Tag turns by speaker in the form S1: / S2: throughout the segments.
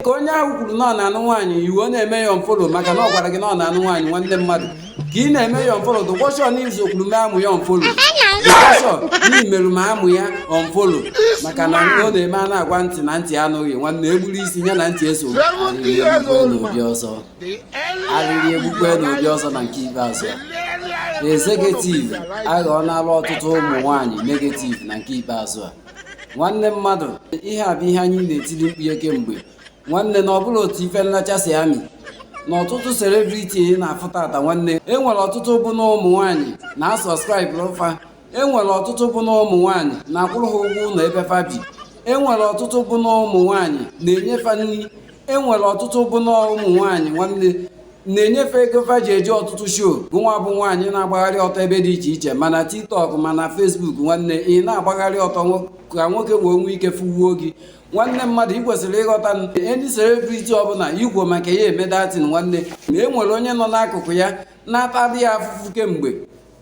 S1: ka onye ahụ kwuru na ọ na-anụ nwaanyị ị wee na-eme ya unfollow maka na ọ gwara gị na ọ na-anụ nwaanyị nwanne mmadụ ka ị na-eme ya unfollow dụkwa sure na i sokwuru mee amụ ya unfollow dụkwa sure na i merụ ma amụ ya unfollow maka na ọ na-eme a na-agwa ntị na ntị anụghị nwanne e gburu isi ya na ntị eso arịrị egbukwe n'obi ọzọ arịrị egbukwe n'obi ọzọ na nke ikpeazụ executive aghọọla ọtụtụ ụmụ nwaanyị negative na nke ikpeazụ a nwanne mmadụ ihe a bụ ihe anyị na-etili mkpu ya kemgbe nwanne na ọbụla otu ife nlacha si amị na ọtụtụ celebrity ị na-afụ taata nwanne e nwere ọtụtụ bụ na ụmụ nwaanyị na-asọskraịbụ fa e nwere ọtụtụ bụ na ụmụ nwaanyị na-akwụrụ ha ụgwọ ụnọ ebe fa bi e nwere ọtụtụ bụ na ụmụ nwaanyị na-enye fa nri e nwere ọtụtụ bụ na ụmụ nwaanyị nwanne na-enye fa ego fa ji eje ọtụtụ show gụnwa bụ nwaanyị na-agbagharị ọtọ ebe dị iche iche ma na tiktok ma na facebook nwanne ị na-agbagharị ọtọ ka nwoke wee nwee ike fụwuo gị nwanne mmadụ ị kwesịrị ịghọta na any celebrity ọbụla igwo maka ya eme that thing nwanne na e nwere onye nọ n'akụkụ ya na-atadị ya afụfụ kemgbe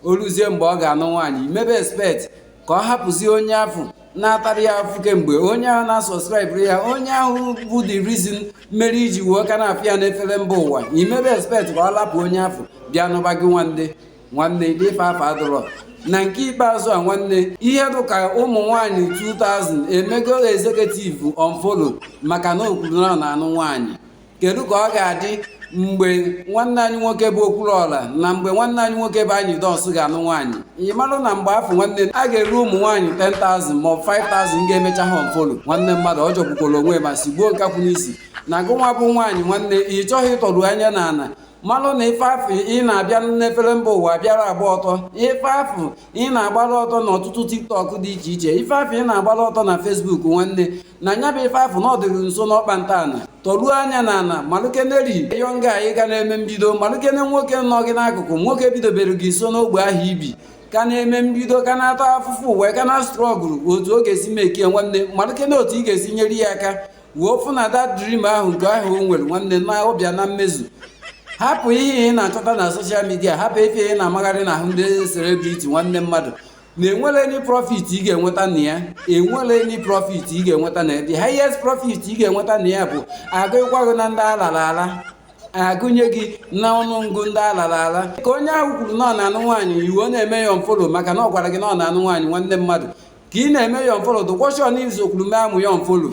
S1: o ruzie mgbe ọ ga-anụ nwaanyị i mebe expect ka ọ hapụzie onye afụ na-atara ya afụfụ kemgbe onye ahụ na-asọskraịbụrụ ya onye ahụ bụ the reason mere i ji wee ka na-afụ ya n'efere mba ụwa i mebe expect ka ọ lapụ onye afụ bịa nụba gị nwanne nwanne ife afụ adụrọ na nke ikpeazụ a nwanne ihe dịka ụmụ nwanyị 2000 emego executive unfollow maka na o kwuru na ọ na-anụ nwaanyị kedu ka ọ ga-adị mgbe nwanne anyị nwoke bụ okwuluọra na mgbe nwanne anyị nwoke bụ anyidons ga-anụ nwaanyị ị marụ na mgbe afụ nwanne a ga-eru ụmụ nwaanyị 10,000 ma ọ bụ 5,000 ga-emecha ha unfollow nwanne mmadụ ọ jọgbukwara onwe ma sigbuo nkakwụ n'isi na gụnwa bụ nwaanyị nwanne ị chọghị ịtọru anya n'ana malụ na ife afụ ị na-abịa n'efere mba ụwa bịara agba ọtọ ife afụ ị na-agbara ọtọ na ọtụtụ tiktok dị iche iche ife afụ ị na-agbara ọtọ na facebook nwanne na nya bụ ife afụ na ọ dịrị nso n'ọkpa ntaala tọruo anya na ana malụkeneri young guy ka na-eme mbido malụkene nwoke nọ gị n'akụkụ nwoke bidobere gị nso n'ogbe ahụ i bi ka na-eme mbido ka na-ata afụfụ wee ka na-astruggle otu ọ ga-esi mekie nwanne malụkene otu ị ga-esi nyere ya aka wee fụ na that dream ahụ nke ahụ o nwere nwanne na ọ bịa na mmezu hapụ ihe ị na-achọta na social media hapụ ife ị na-amagharị na ahụ ndị celebrity nwanne mmadụ na enwerọ any profit ị ga-enweta na ya enwerọ any profit ị ga-enweta na ya the highest profit ị ga-enweta na ya bụ a gụkwa gị na ndị alara ala a gụnye gị na ọnụọgụ ndị alara ala ka onye ahụ kwuru na ọ na-anụ nwaanyị ị wee na-eme ya unfollow maka na ọ gwara gị na ọ na-anụ nwaanyị nwanne mmadụ ka ị na-eme ya unfollow dụkwa sure n'izu okwulume amụ ya unfollow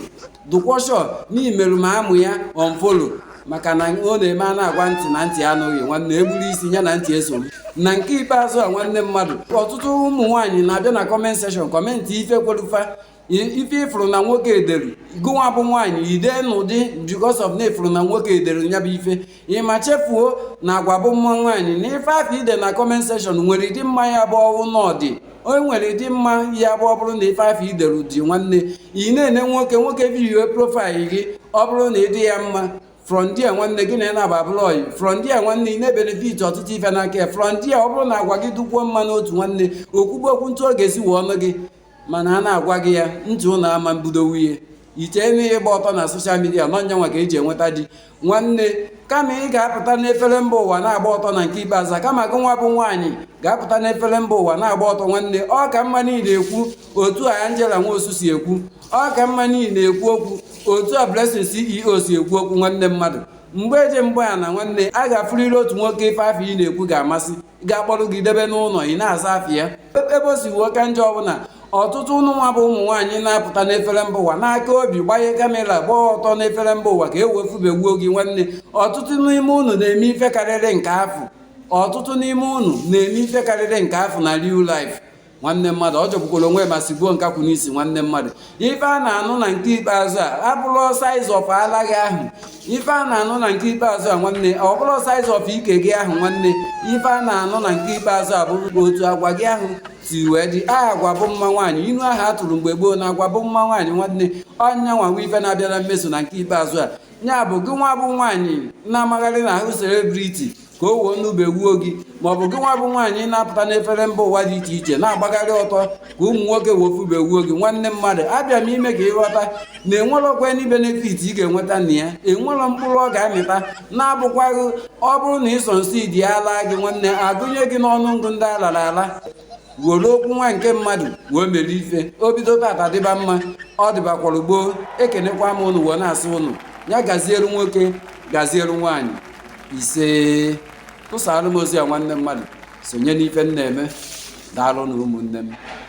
S1: dụkwa sure na i meru ma amụ ya unfollow maka na ọ na-eme a na-agwa ntị na ntị anụghị nwanne egburu isi ya na ntị eso na nke ikpeazụ a nwanne mmadụ ọtụtụ ụmụ nwaanyị na-abịa na comment section comment ife kweru fa ife ị fụrụ na nwoke ederu gụnwa bụ nwaanyị ide n'ụdị because of na ị fụrụ na nwoke ederu ya bụ ife ịma chefuo na agwa bụ mma nwaanyị na ife afụ i de na comment section nwere ịdị mma ya bụ ọwụ n'ọdị o nwere ịdị mma ya bụ ọ bụrụ na ife afụ i dere dị nwanne ị na-ene nwoke nwoke view profile gị ọ bụrụ na ị dị ya mma from there nwanne gị na nya abụrụ ọyị from there nwanne ị na-ebenefit ọtụtụ ife n'aka ya from there ọ bụrụ na agwa gị dụkwuo mma n'otu nwanne o kwube okwu otu ọ ga-esi wee nụọ gị mana a na-agwa gị ya ntị ụlọ ama mbido nwunye i che na ịgba ọtọ na social media na ọ nyanwa ka eji enweta di nwanne kama ị ga-apụta n'efere mba ụwa na-agba ọtọ na nke ikpeazụ kama gị nwa bụ nwaanyị ga-apụta n'efere mba ụwa na-agba ọtọ nwanne ọ ka mma na ị na-ekwu otu a Angela Nwosu si ekwu ọ ka mma na ị na-ekwu okwu otu a Blessing CEO si ekwu okwu nwanne mmadụ mgbe eje mgbe ana nwanne a ga-afụrịrị otu nwoke ife afụ ị na-ekwu ga-amasị ga-akpọrọ gị debe n'ụlọ ị na-aza afa ya ebe o si wee ka njọ ọ bụ na ọtụtụ ụnụ nwa bụ ụmụ nwaanyị na-apụta n'efere mba ụwa n'aka obi gbanye kamera gbaa ọtọ n'efere mba ụwa ka e wee fụbe wuo gị nwanne ọtụtụ n'ime ụnụ na-eme ife karịrị nke afụ ọtụtụ n'ime ụnụ na-eme ife karịrị nke afụ na real life nwanne mmadụ ọ jọgbukwara onwe ma sigbuo nkakwụ n'isi nwanne mmadụ ife a na-anụ na nke ikpeazụ a abụrọ size of ala gị ahụ ife a na-anụ na nke ikpeazụ a nwanne ọ bụrọ size of ike gị ahụ nwanne ife a na-anụ na nke ikpeazụ a bụ otu agwa gị ahụ si wee dị agwa bụ mma nwaanyị inu ahụ a tụrụ mgbe gboo na agwa bụ mma nwaanyị nwanne ọ nyanwa nwe ife na-abịa na mmezu na nke ikpeazụ a ya bụ gị nwa bụ nwaanyị na-amagharị n'ahụ celebrity ka o wee nụbe wuo gị ma ọ bụ gị nwa bụ nwaanyị na-apụta n'efere mba ụwa dị iche iche na-agbagharị ọtọ ka ụmụ nwoke wee fụbe wuo gị nwanne mmadụ abịa m ime ka ị ghọta na enwerọkwa any benefit ị ga-enweta na ya enwerọ mkpụrụ ọ ga-amịta na-abụkwaghị ọ bụrụ na e succeed alaa gị nwanne agụnye gị n'ọnụ ọgụ ndị a lara ala were okwu nwanne nke mmadụ wee mere ife o bido tata dịba mma ọ dịbakwara gboo ekenekwa m ụnụ wee na-asị ụnụ ya gazielu nwoke gazielu nwaanyị isee tụsara m ozi a nwanne mmadụ sonye n'ife m na-eme daalụ nụ ụmụnne m